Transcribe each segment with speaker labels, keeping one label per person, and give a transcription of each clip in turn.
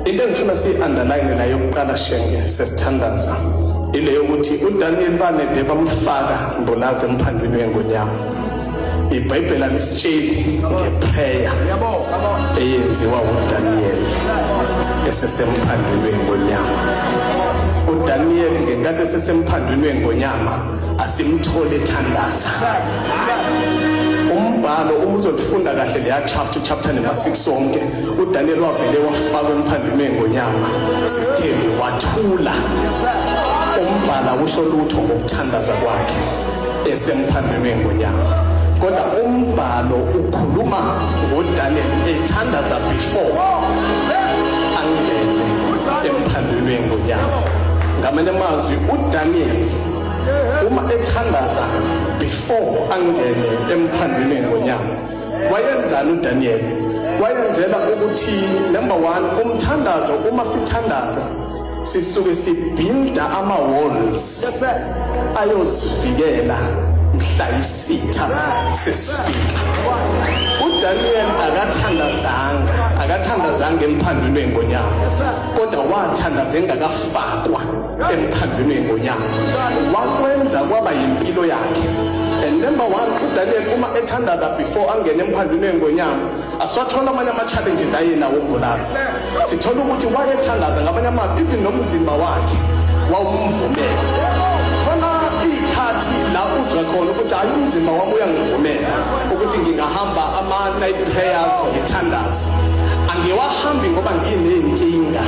Speaker 1: Into engifuna siyi-underline la yokuqala shenge sesithandaza ile yokuthi uDaniel banede bamfaka mbulazi emphandwini wengonyama. IBhayibheli alisitsheli ngeprayer eyenziwa uDaniel esesemphandwini wengonyama. uDaniel ngenkathi esesemphandwini wengonyama asimthole ethandaza umbhalo uma uzolifunda kahle leya chapter chapter number 6 sonke uDaniel wavele wafaka umphandime ngonyama sisithembi wathula umbhala usho lutho ngokuthandaza kwakhe esemphandime ngonyama kodwa umbhalo ukhuluma ngoDaniel ethandaza before angene emphandime ngonyama ngamanye amazwi uDaniel uma ethandaza before angene emphandime ngonyama Wayenzani uDaniel? Wayenzela ukuthi number 1 umthandazo uma sithandaza sisuke sibhinda ama walls ayosivikela mhla isitha sesifika. uDaniel akathandazanga akathandazanga emphandulweni ngonyama kodwa wathandaza engakafakwa emthandweni ngonyama wakwenza kwaba yimpilo yakhe and number one udaniel uma ethandaza before angene emphandweni engonyama asiwathola amanye ama-challenges ayenawo umbulazi sithola ukuthi wayethandaza ngamanye amazwi even nomzimba wakhe wawumvumela khona iy'khathi la uzwe khona ukuthi hayi umzimba wami uyangivumela ukuthi ngingahamba ama-night prayers ngithandaze angiwahambi ngoba nginey'nkinga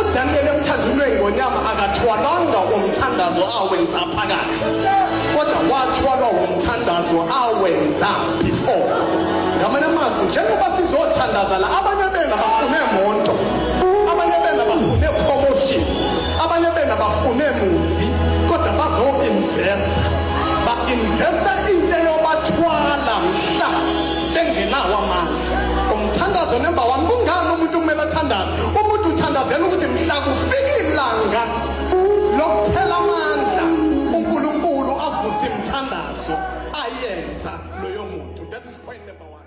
Speaker 1: uDaniyeli emthanda umlwengi ngonyama akathwalanga umthandazo awenza phakathi kodwa wathwalwa umthandazo awenza before ngamanye amazwi njengoba sizothandaza la abanye bena bafune monto abanye bena bafune promotion abanye bena bafune muzi kodwa bazo-investa ba-investa into eyobathwala mhla bengenawo amandla umthandazo nemba wami kungani umuntu kumele athandaze Umuntu uthandazela ukuthi mhla kufika ilanga lokuphela amandla uNkulunkulu avuse imithandazo ayenza loyo muntu. That is point number one.